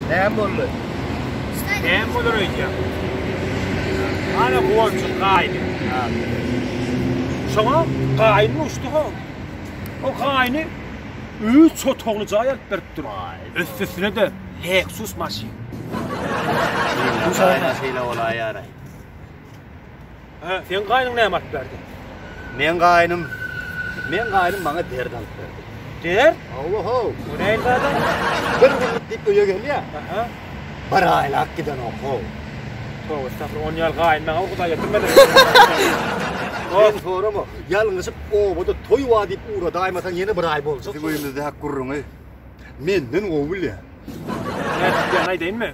Näme boldy? Näme bolar öýdýäň? Ana golçuk gaýny. Şoňa gaýny uçdy ho. O gaýny üç otagly jaý alyp beripdir. Üstüsine de Lexus maşyn. Şeýle bolaýar. Hä, seň gaýnyň näme alyp berdi? Meň gaýnym, meň gaýnym maňa dert alyp berdi. Dert? Hawa-how. Bu näil zada? Bir günlük diýip öýe gelýär. Aha. Bir aýlap gidenok, how. Towa estagfir, on ýal gaýyn maňa ukyda getirmedi. Sen sorama, ýalňyşyp obada toý bar diýip ugradaýmasaň ýene bir aý boljak. Biziň öýümizde hak gürrüňi menden gowy bilýär. Nädip diýen aýdaýynmy?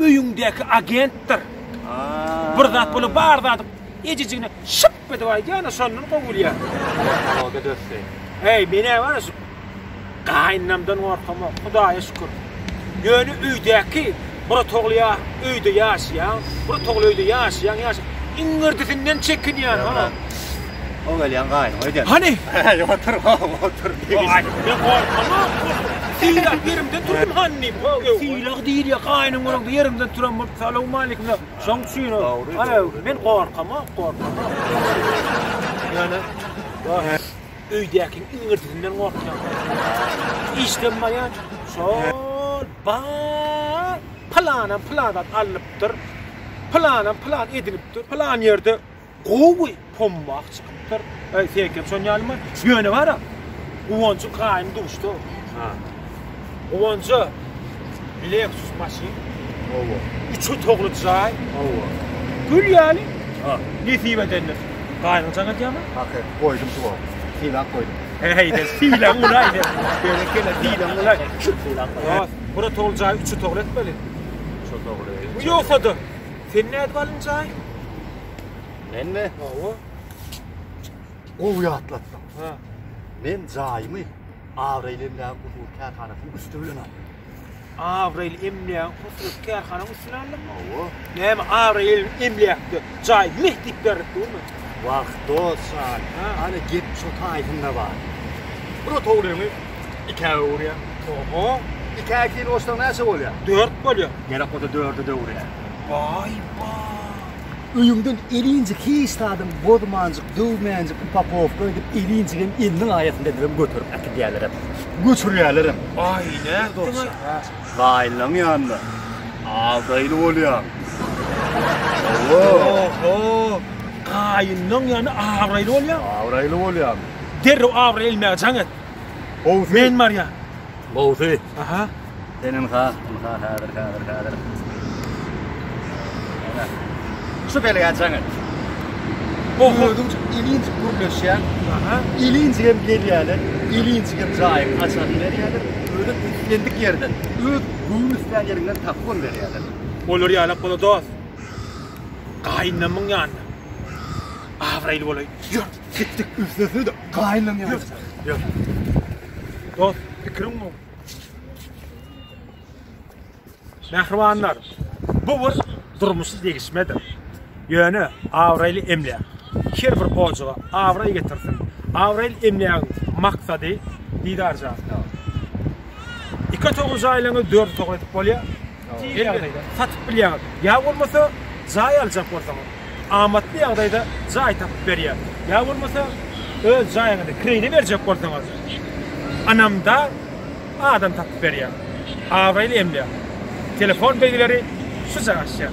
öýüňdäki agentdir. Bir zat bolup bar zady ejejigine şyp edip aýdýana şondan gowulýar. Ýa-da dösdi. Eý, menä bar şu gaýynamdan gorkamok, Hudaýa şükür. Ýöne öýdäki bir togly öýde ýaşaýan, bir togly öýde ýaşaýan ýaşaýan iňňirdisinden çekinýän. O gelýän gaýynyň öýden. Hany? Hä, otur, otur. Aýtma, gorkama. Sylag ýerimden tursun hany diýip. Sylag diýil ýa gaýynyň öňünde ýerimden turan bolup salowmaleýkim diýip. Şoň üçin men gorkama, gorkama. Ýöne öýdäkiň iňirdisinden gorkýan. Işden baýan şol bar pylanam pylan zat alnypdyr. Pylanam pylan edinipdir. Pylan ýerde Gowy pommah çykypdyr. Aý sekem şon ýalymy? Ýöne bara Guwanjyň gaýyny duşda. Ha. Guwanja Lexus maşyn. Owa. Üç otagly jaý. Owa. Gül ýaly. Ha. Nesip edendir. Gaýynyň jaň edýärmi? Haky, goýdum tuwa. Sylag goýdum. Heýde, sylag golaýdy. Berekella, sylag golaý. Sylag. Bura tol jaý üç otagly etmeli. Üç otagly. Bu ýogsady. Sen nädip alynjaý? Menmi? Hawa. Gowy ýatlatdyň. Ha. Men jaýymy Abraýly emlägiň huzur kärhanasynyň üsti bilen aldym. Abraýly emlägiň huzur kärhanasynyň üstüne aldyň? Hawa. Näme Abraýly emläkde jaý meh diýip berip durmy? Wah, dost jan. Hany gep şo taýsyna bar. Bir otaglygyňy 2-ä öwürýär. Oho, 2-ä ikini goşsaň näçe bolýar? 4 bolýar. Gerek bolsa 4-e de öwürýär. Waý ba! Öýüňden elinjik hiç zadam bozmanjyk, döwmänjik upakowka edip elinjigem eliniň aýasynda edibem göterip äkidýärlerem. Göçürýärlerem. Aý, nätdiň-aý? Gaýynlaň ýanynda agdaýly bolýaň. Hawa. Oho! Gaýynlaň ýany abraýly bolýaň? Abraýly bolýaň. Derrew abraý elmäge jaň et. Gowusy. Men barýan. Gowusy. Aha. Sen ynha, ynha häzir, häzir, häzir. Ana. Şu belgä jaň et. Oho. Özüň ilinç gürleşýän. Aha. Ilinç hem gelýärler. Ilinç hem jaýyň açaryny berýärler. Öýde islendik ýerden, öz göwün islän ýerinden tapgyn berýärler. Olar ýalap bola dost. Gaýynlamyň ýanyna. Abraýly bolaý. Ýör. Sikdik üflese de gaýlan ýaly. Ýok. Dost, pikiriň bu. Mähribanlar, bu bir durmuşy degişmedir. Ýöne abraýly emläk her bir ojaga abraý getirsin. Abraýly emlägiň maksady didarja. Iki otagy jaýlaňyz dört otag edip bolýar. Tiz ýagdaýda satyp bilýäňiz. Ýa bolmasa jaý aljak bolsaňyz, amatly ýagdaýda jaý tapyp berýär. Ýa bolmasa öz jaýyňyzy kireýine berjek bolsaňyz, ynamdar adam tapyp berýär. Abraýly emläk. Telefon belgileri şu jaga açýar.